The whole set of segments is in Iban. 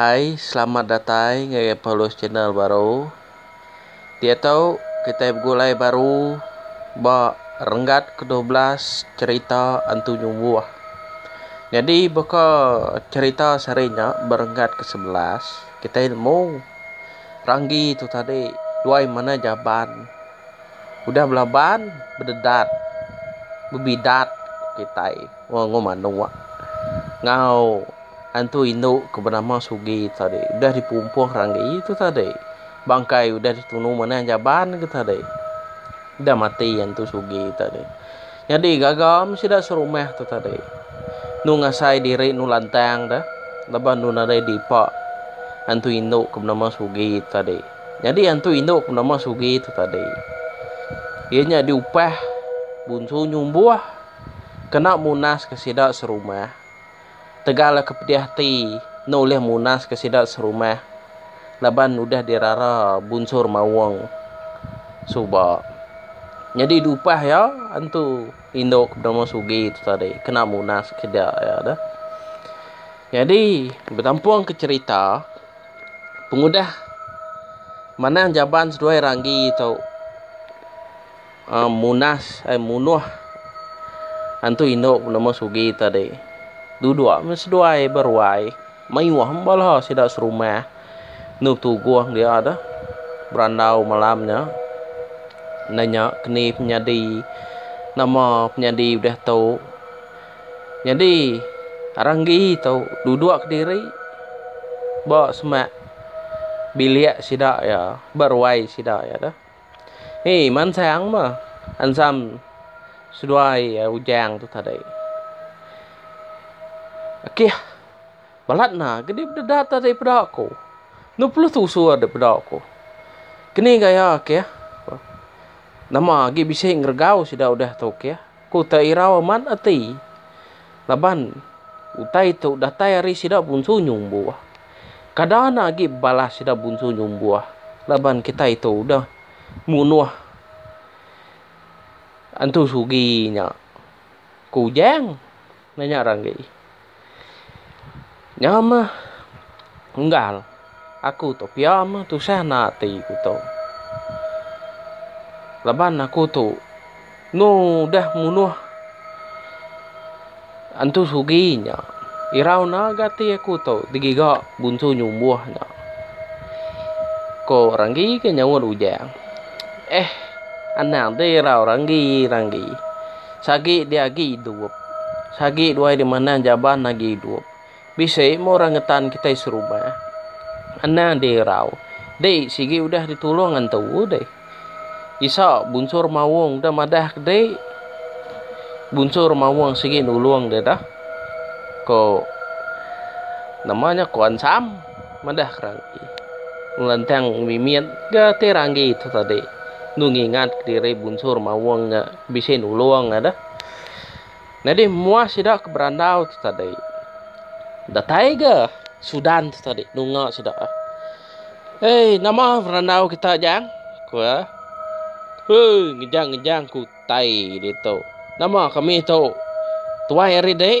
Hai selamat datai ngagai Paulus channel baru. Diatu kitai begulai baru ba renggat ke dua belas cherita Antu Nyumbuh. Nyadi baka cherita sehari nya ba renggat ke sebelas kitai nemu Ranggi tu tadi duai manah jaban. Udah belaban, bededat, bebidat kitai wang manuk enggau antu indu ke benama Sugi tu tadi. Udah dipumpuh ranggi tu tadi. Bangkai udah ditunu manah jaban tu tadi. Udah mati antu Sugi tu tadi. Nyadi gaga meh sida serumah tu tadi. Enu ngasai diri enu lantang deh laban enu nadai dipa antu indu ke benama Sugi tu tadi. Nyadi antu indu ke benama Sugi tu tadi. Iya nya diupah Bunsu Nyumbuh kena munaska sida serumah. Tegal ke pedih ati enda ulih munaska sida serumah laban udah dirara Bunsu Remaung suba. Nyadi diupah iya antu indu ke benama Sugi tu tadi kena munaska sida iya tu. Nyadi betampung ke cherita. pengudah manang jaban seduai ranggi tu munas ai munuh antu indu penemu sugi tadi duduk meh seduai beruai mayuh meh bala sida serumah enu tuguh dia tu berandau malam nya nanya keni penyadi nama penyadi udah tu. Nyadi arang gi tu duduk kediri ba semak bilik sida iya ba ruai sida iya tu. Hi mansang meh ensam seduai Ujang tu tadi. Akih balat enda ke dipeda tadi peda aku. Enu pelus tusu dipeda aku. Keni gaya akih nama agi bisi ngeregau sida udah tu akih. Ku Tairau amat ati. Laban, utai tu datai ari sida Bunsu Nyumbuh. Kada enda agi balas sida Bunsu Nyumbuh laban kitai tu udah munuh Antu Sugi nya, ku Ujang. Nanya Ranggi. Nya meh Unggal. Aku tu pia meh tusah enda ati ku tu. Laban aku tu enu udah munuh Antu Sugi nya. Irau enda ga ati aku tu digiga Bunsu Nyumbuh nya. Ko Ranggi ke nyaut Ujang. Eh anang ti irau Ranggi, Ranggi. Sagi dia agi idup. Sagi duai dia manah jaban agi idup. Bisi meh orang ngetan kitai serumah. Anang dia irau. Dih, sigi udah ditulung antu dih. Isa, Bunsur Mawong udah madah ke dih. Bunsur Mawong sigi nulung deh dah. Ko, nama nya Kuan Sam. Madah Kerangki ngelantang mimit ga ti ranggi tu tadi enu ngingat ka diri bunsur Mawung nya bisi nulung iya deh. Nyadi muah sida ke berandau tu tadi datai ga Sudan tu tadi nunga sida. Hei nama berandau kita Jang? ku iya. Hei ngejang-ngejang ku utai ditu. Nama kami tu tuai ari dik?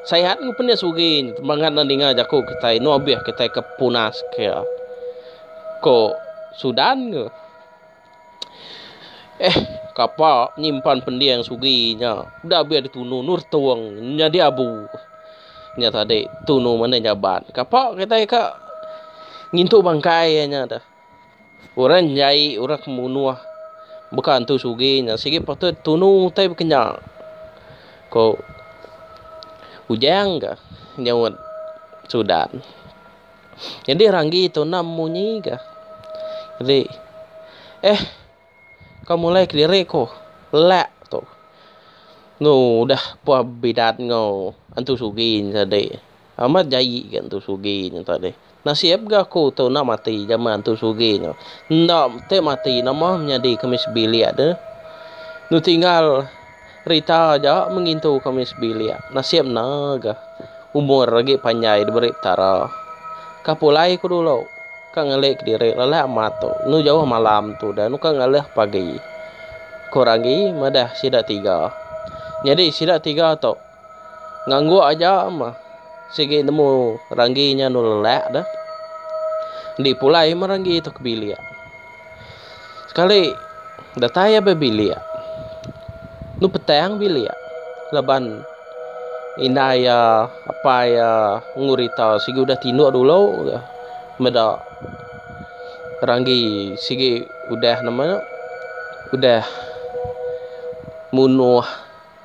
Sihat enggau penis ugi temangat enda ninga jaku kitai enda obih kitai ke punas ke ko sudan ke. Eh kapa nyimpan pending sugi nya udah bih ditunu nur tung nyadi abu nya tadi tunu mene nyaban kapa kitai ka ngintu bangkai nya deh. Orang jai orang ke munuh baka entu sugih nya sigi patut tunu utai baka nya ko ujang ga nyaunt sudan nyadi ranggi tuna munyi ga jadi eh. Kau mulai kediri ku lak tu. Enu udah puh bidat enggau Entu Sugi nya tadi. Amat jai ga Entu Sugi nya tadi. Nasib ga aku tu enda mati jaman Entu Sugi nya. Enda ti mati nama menyadi kemis bilik deh. Enu tinggal. Rita aja mengintu kami sebilik. Nasib enda ga. Umur agi panjai diberi Petara. Ka pulai aku dulu. Ka ngelik kediri lelak amat tu. Enu jauh malam tu dah nuka ngalih pagi. Ku Ranggi madah sida tiga. Nyadi sida tiga tu ngangguk aja meh sigi nemu Ranggi nya anu lelak dah. Dipulai meh Ranggi tu ke bilik. Sekali datai iya ba bilik enu petang bilik laban indai iya apai iya ngurita sigi udah tinu dulu meda ranggi sigi udah nama nya udah munuh.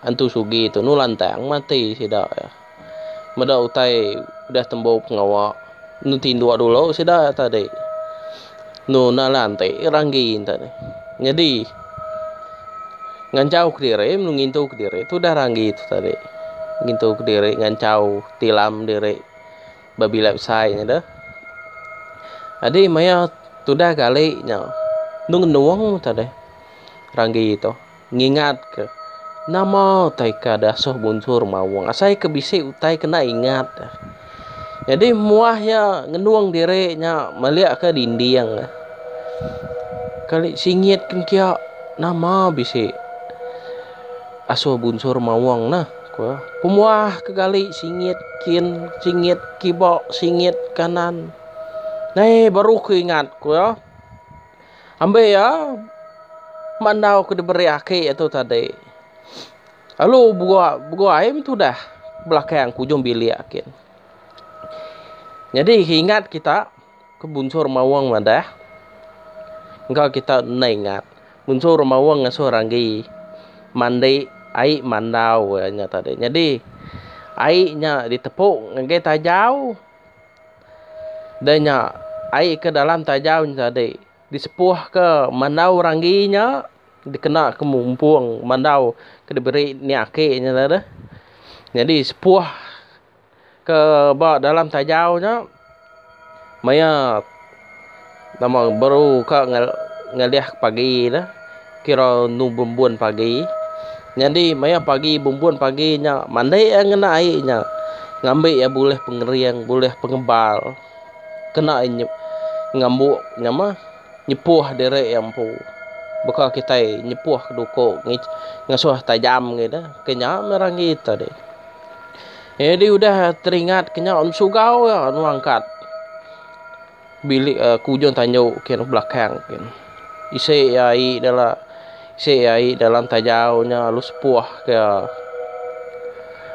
Antu Sugi Tunu lantang mati sida iya. Meda utai udah tembu pengawa enu tinduk dulu sida iya tadi. Enu enda lanti ranggi enda nih. Nyadi ngancau kediri melu ngintu kediri tu udah ranggi tu tadi. Ngintu kediri ngancau tilam diri ba bila besai nya deh. Nyadi maya tudah gali nya enu ngenung tadi ranggi tu. Ngingatka, Nama utai ke ada asuh bunsur maung asai ke bisi utai kena ingat. Nyadi muah iya ngenung diri nya melika dinding. Kali singit kin kiya nama bisi asuh bunsur maung neh ku iya. Pemuah ke gali singit kin singit kiba singit kanan. Nai baru ku ingat ku iya. Ambi iya ma endau ke diberi aki iya tu tadi. Lalu beguai meh tudah belakang ke ujung bilik gin. Nyadi ingat kita ke bunsur maung madah engka kita enda ingat bunsur maung ngasuh ranggi mandi ai mandau iya nya tadi. Nyadi ai nya ditepu ngagai tajau. Dei nya, ai ke dalam taja nya tadi disepuhka mandau ranggi nya dikenaka mumpung mandau ke diberi nya aki nya tadi. Nyadi sepuh ke ba dalam taja nya maya. Nama baru ka ngalih pagi ne kira enu bumbun pagi nyadi maya pagi bumbun pagi nya mandi iya ngena ai nya ngambi iya bulih pengering bulih pengebal kena iya ngambu nyamah nyepuh diri iya empu baka kitai nyepuh ke duko ngasuh tajam ngida ke nya meh rami ito agi nyadi udah teringat ke nya sugau anu angkat. bilik ke ujung tandu ke belakang ke isi iya ae dalam isi iya ae dalam tajau nya lalu sepuh ke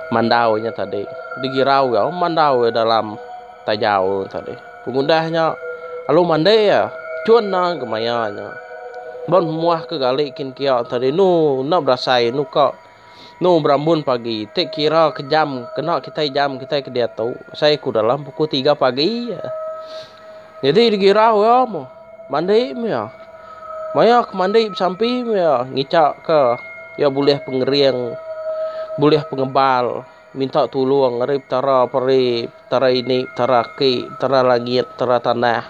mandau nya tadi digirau iya mandau iya dalam tajau tadi pengudah nya lalu mandi iya cun nang ke maya nya ba memuah ke galik kin kiya tadi enu enda berasai enu ka Enu berambun pagi ti kira ke jam kena kitai jam kitai ke diatu asai ku dalam pukul tiga pagi aja. Nyadi dikira iya meh mandi meh iya. Maya ke mandi besampi meh iya ngica ke iya bulih pengering bulih pengebal minta tulung ari Petara peri Petara ini Petara aki Petara langit Petara tanah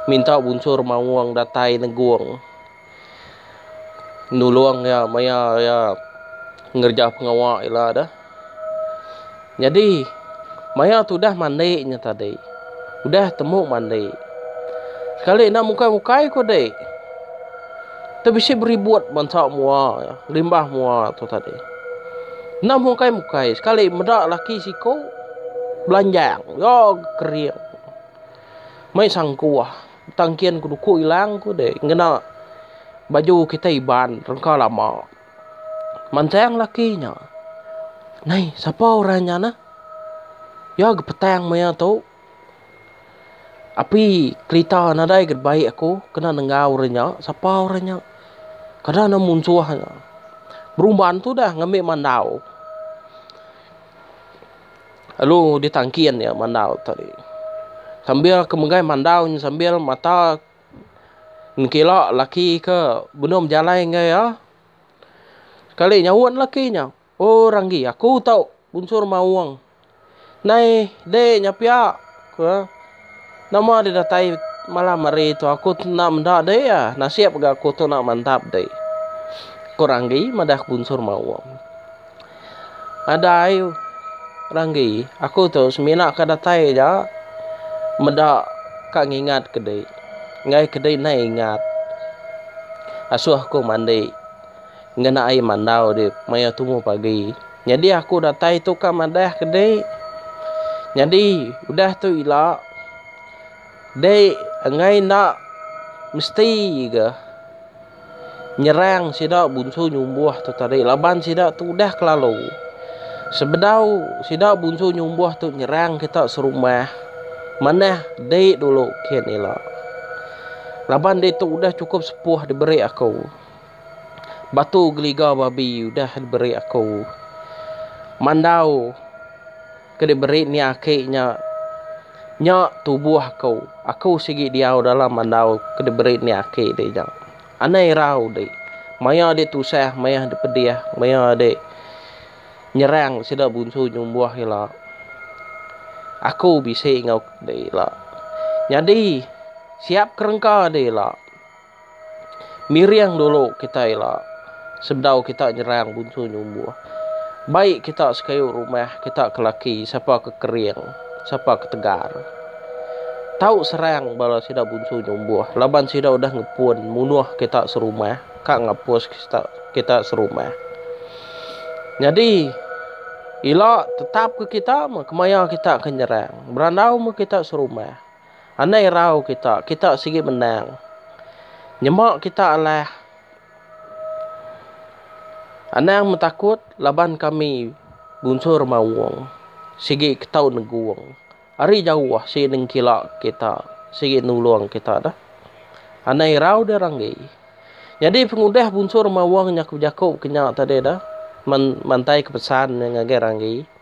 minta bunsur maung datai negong. nulung iya maya iya ngereja pengawa ila deh. Nyadi maya tu udah mandi nya tadi. Udah temu mandi. Sekali enda mukai-mukai ku dik. Tu bisi beribut bansa mua iya, limbah mua tu tadi. Enda mukai-mukai sekali meda laki siku belanjang. Yo kering. Mai sangkuh. Tang kian ku duku ilang ku deh ngena baju kitai Iban rengka lama. Mantang laki nya. Nai sapa orang nya nah? Iya ga petang maya tu. Api kerita nadai ga baik aku kena nengau orang nya. Sapa orang nya? Kada enda munsuh nya. Berumban tu dah ngambi mandau. Lalu ditangkin iya mandau tadi. Sambil ke megai mandau nya sambil mata nengkila laki ke benum jalai enggau iya. Sekali nyaut laki nya, Oh Ranggi, aku tau bunsur maung. Nai dek nya pia, ku iya. Nama deh datai malam hari tu aku tu enda meda deh iya nasib ga aku tu enda mantap deh ku Ranggi madah ke bunsur Maung. Nadai Ranggi aku tu semina ka datai aja meda ka ngingat ke deh enggai ke deh nai ingat asuh aku mandi. Ngena ai mandau di maya tumu pagi. Nyadi aku datai tu ka madah ke di. Nyadi udah tu ila di enggai enda mesti ga nyerang sida bunsu nyumbuh tu tadi laban sida tu udah ke lalu. Sebedau sida bunsu nyumbuh tu nyerang kita serumah manah di dulu kin ila. Laban ditu udah chukup sepuh diberi aku. Batu geliga babi udah diberi aku. Mandau ke diberi nia aki nya nya tubuh aku. Aku sigi diau dalam mandau ke diberi nia aki di nya. Anai irau di maya di tusah maya di pedih maya di nyerang sida bunsu nyumbuh ila. Aku bisi enggau ila. Nyadi siap kerengka di ila. Miring dulu kitai ila sebedau kita nyerang bunsu nyumbuh. Bai kita sekayu rumah kita ke laki sapa ke kering sapa ke tegar. Tau serang bala sida bunsu nyumbuh laban sida udah ngepun munuh kita serumah ka ngapus kita kita serumah. Nyadi ila tetap ke kita meh kemaya kita ke nyerang berandau meh kita serumah. Anang irau kita, kita sigi menang. Nyema kita alah. Anang metakut laban kami bunsur maung sigi ketau negung. Ari jauh sigi nengkila kita, sigi nulung kita dah. Anang irau deh ranggi. Nyadi pengudah bunsur maung nya ke bejaku ke nya tadi dah, mantai ke pesan nya ngagai ranggi.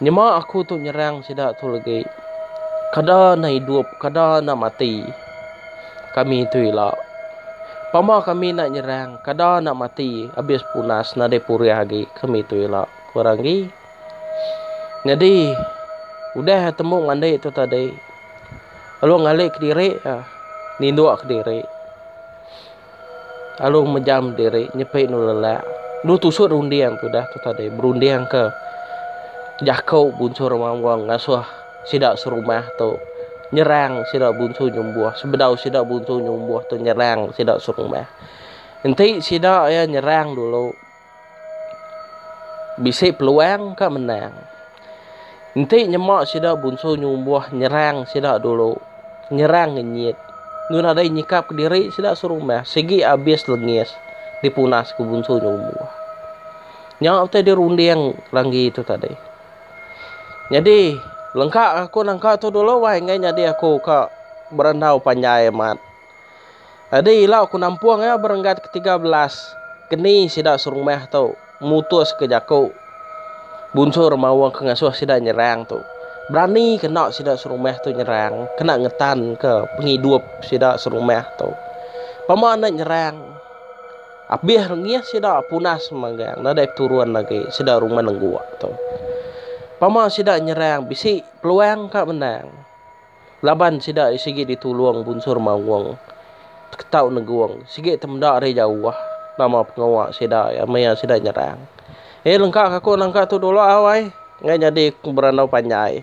Nyema aku tu nyerang sida tu legi. Kada enda idup, kada enda mati. Kami tu ila. Pama kami enda nyerang, kada enda mati abis punas nadai purih agi kami tu ila, ku Ranggi. Nyadi, udah iya tembu ngandi tu tadi, lalu ngalih kediri iya, ninduk kediri. lalu mejam diri nyepi endur lelak endur tusuk runding tu dah tu tadi berunding ke jaku bunsur Ramanggung ngasuh sida serumah tu nyerang sida bunsur nyumbuh sebedau sida bunsur nyumbuh tu nyerang sida serumah enti sida iya nyerang dulu. Bisi peluang ka menang. Enti nyema sida Bunsu Nyumbuh nyerang sida dulu, nyerang ngenyit, enggau nadai nyikap kediri sida serumah sigi abis lengis dipunaska Bunsu Nyumbuh. Nya utai dirunding Ranggi tu tadi. Nyadi lengka aku nangka tu dulu wai enggai nyadi aku ka berandau panjai amat. Tadi ila aku nampung iya berenggat ke tiga belas, keni sida serumah tu mutuska jaku bunsur maung ke ngasuh sida nyerang tu. Berani kena sida serumah tu nyerang, kena ngetanka pengidup sida serumah tu. Pama enda nyerang, abih rengih sida punas magang enda dei peturun agi sida rumah nengguk tu. Pama sida nyerang bisi peluang ka menang. Laban sida sigi ditulung Bunsur Mawung, Ketau Negung, sigi temda ari jauh nama pengawa sida iya maya sida nyerang. Hei lengka ka aku nangka tu dulu au ai, enggai nyadi berandau panjai.